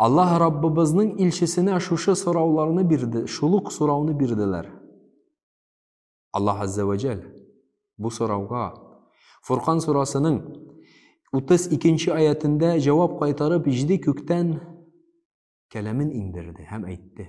Аллаһ Раббыбызның илчесенә шушы сорауларны бирде, шул ук сорауны бирделәр. Аллаһ Азза ва Джәл бу сорауга Фуркан сурасының 32 нче аятендә җавап кайтарып, җиде күктән кәламен иңдерде һәм әйтте.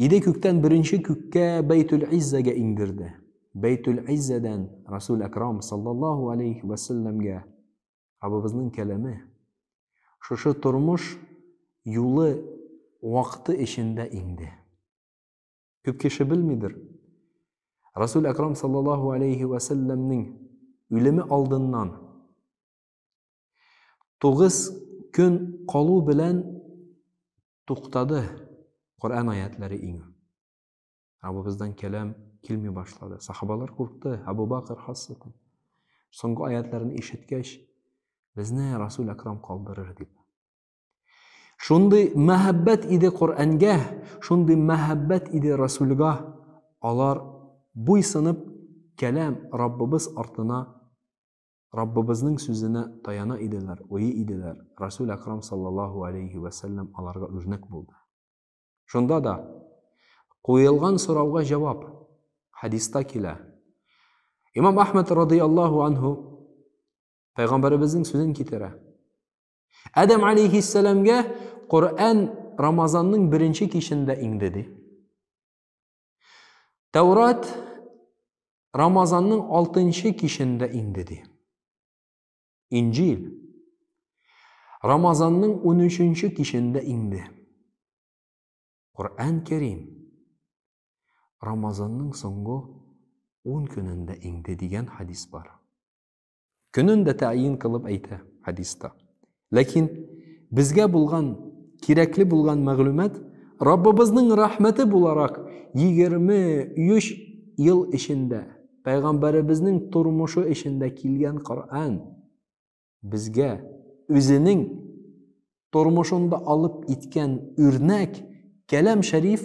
Иде күктән беренче күккә Бәйтүл Иззәгә иңдерде. Бәйтүл Иззәдән Расул Әкрам саллаллаһу алейхи ва сәлләмгә Раббыбызның кәләме. Шушы тормыш юлы вакыты эчендә инде. Күп кеше белмидер. Расул Әкрам саллаллаһу алейхи ва сәлләмнең үлеме алдыннан Тугыз көн калу белән туктады Коръән аятләре иңү. Раббыбыздан кәлам килми башлады. Сахабалар куркты, Абу Бакр хасрәтен. Соңгы аятларын ишеткәч, безне Расул Акрам калдырыр дип. Шундый мәхәббәт иде Коръәнгә, шундый мәхәббәт иде Расулга. Алар буйсынып кәлам Раббыбыз артына Раббыбызның сүзенә таяна иделәр, уйый иделәр, Расул Әкрам саллаллаһу алейһи вә сәлләм аларга үрнәк булды. Шунда да, Куелган сорауга җавап, хәдиста килә. Имам Әхмәд радыйаллаһу анһу Пәйгамбәребезнең сүзен китерә. Адәм алейһиссәламгә Коръән Рамазанның беренче кичендә иңде, ди. Тәүрат Рамазанның алтынчы кичендә инде ди. Инҗил Рамазанның унөченче кичендә инде. Коръән Кәрим Рамазанның соңгы ун көнендә инде дигән хадис бар. Көнен дә тәйин кылып әйтә хадиста. Ләкин безгә булган кирәкле булган мәгълүмат Раббыбызның рәхмәте буларак 23 ел эчендә пәйгамбәребезнең тормышы эчендә килгән Коръән безгә үзенең тормышында алып иткән үрнәк кәләм шәриф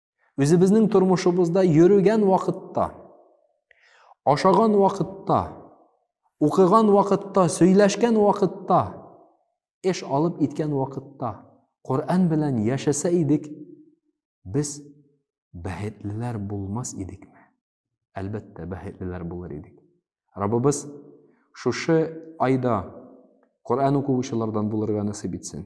Үзебезнең тормышыбызда йөрегән вакытта, ашаган вакытта, укыган вакытта, сөйләшкән вакытта, эш алып иткән вакытта Коръән белән яшәсә идек, без бәхетлеләр булмас идекме? Әлбәттә, бәхетлеләр булыр идек. Раббыбыз шушы айда Коръән укучылардан булырга насыйп итсен.